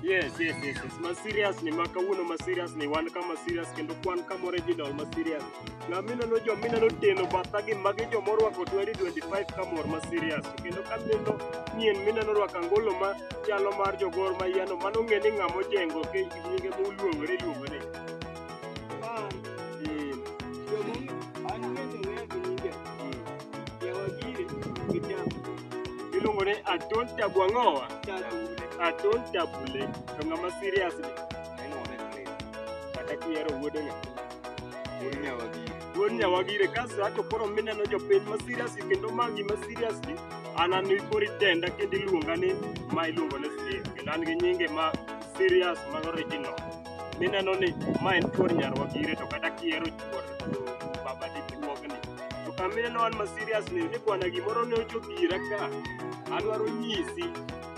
Yes, yes, yes, yes. Ma serious ni ma kawuono ma serious ni wan kama serious kendo kwan kama original ma serious. Na mimi nalo jo mimi nalo teno batha gi magi jo morwako 2025 kamor ma serious. To Kendo ka mimi nalo nien mimi nalo rwako angolo ma chalo mar jogor ma yano mano ng'e ni ng'amo jengo ke nyinge moluongore luongore. Iluongo ni Aton Tabu Ang'owa. Aton Tabule. To ng'ama serious ni. Kata kihero wuodo nya. Wuod Nyawagire kaso ato koro mineno jopiny ma serious kendo ma gima serious ni an an koro itenda kendo iluonga ni ma iluongo ni Steve. Kendo an gi nyinge ma serious ma original. mineno ni ma en chuor nyarwa gire to kata kiero chuor baba dichuogni to kamineno an ma serious ni ni bwana gimoro ne ochopo ira ka adwaro nyisi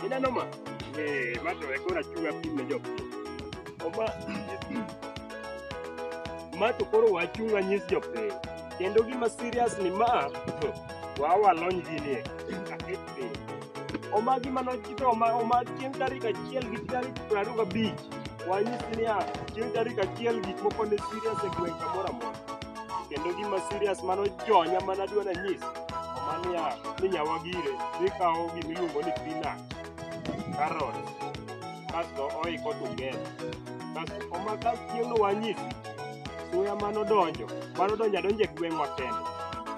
ineno ma eh ma to ekora chuga pim ne jopiny oma ma to koro wachung' anyis jopiny kendo gima serious ni ma wawalony ginie piny. Omagi mana chito oma oma chieng' tarik achiel gi tarik piero ariyo gabich. Wanyisi niya, chieng' tarik achiel gik moko ne serious e gweng' kamoro amora. Kendo gima serious mano jonya mana dwa nanyis. Oma niya, ni nyawa gire, dhi kawo gima iluongo ni peanut, carrot, kasto oiko together. Kasto oma kasto chieng'no wanyisi suya mano donjo mano donjo adonjo e gweng'wa kende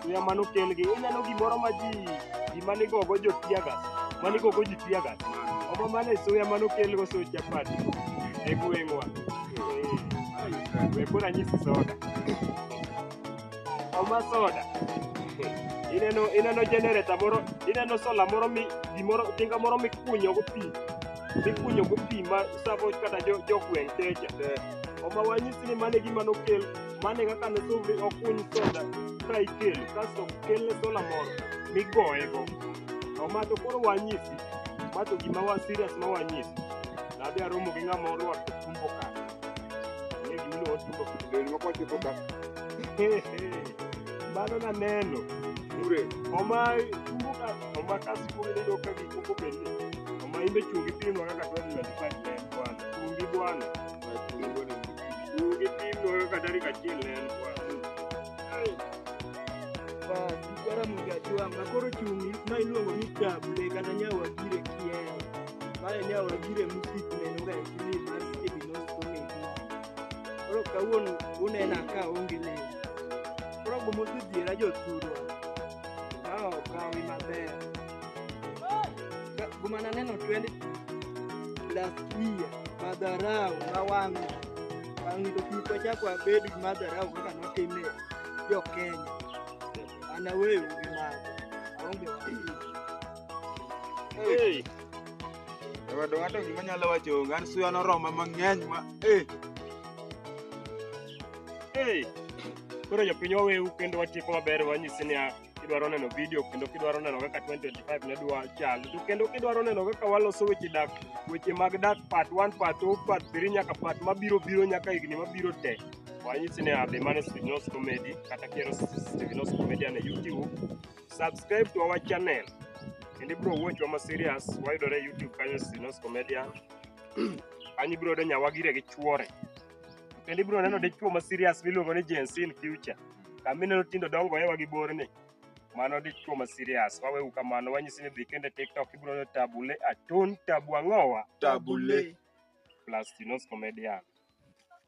suya mano kelgi ineno gimoro ma ji ji mane gogo jo tiagas mane gogo ji tiagas omo mane suya mano kelgo so chapati e gweng'wa Eh, we koro anyisi soda oma soda ineno ineno generator moro ineno sola moro mi gimoro tinga moro mikunyogo pi mikunyo go pi ma savo kata jo- jogweng' techa oma wanyisi ni mane gima nokel mane kaka ne suvri okuny soda ka ikel kasto kelne sola moro migoyego oma to koro wanyisi ma to gima wa serious ma wanyisi nadhi aromo gi ng'ama orwako tumbo ka ne gimiluwo tumbo Lewni moko chiko ka mano naneno mure oma tumbo ka to ma ka sikul iyudo ka gik moko bed ni to ma imbe chungi pimwa kaka tarik twenty five ne en bwana chungi bwana chungi pimwa kaka tarik achiel ne en bwana Basi, kwara mgajua makoro chungi ma iluongo ni table kata nyawagire kien mae nyawagire musik nenoga e kili mar kebinoskomeji koro kawuono unena ka onge leo koro gomosedhiera jothurwa Kawo kawi maber. Ka- Guma naneno 20 plus year madharau ma wang'o. Wang'o to kik wachak wabed gi madharau kaka notime jo Kenya. An aweyo gi mago. Aonge wachni. Hey. Wadwa ng'ato gima nyalo wacho onge, an suya noroma mang'eny ma eh. Hey. Koro jopiny waweu kendo watieko maber wanyisi niya kidwaro neno video kendo kidwaro neno kaka 2025 ne dwa chal to kendo kidwaro neno kaka waloso weche dak weche mag dak part 1 part 2 part 3 nyaka part mabiro biro nyaka higni mabiro te wanyisi niya be mane Stevenos Comedy kata kiero Stevenos Comedy ne YouTube subscribe to our channel kendo ibiro watch wa ma serious wayudore e YouTube kanyo Stevenos Comedy kanyo ibiro yudo nyawagire gi chuore kendo ibiro neno dichuo ma serious miluongo ni Gen Z in future kama ineno tindo dongo ewa gi borni mano dichuo ma serious wawewu kamano wanyisi ni dhi kende tiktok ibiro neno tabule atun tabu ang'owa Tabule. plus tinos comedian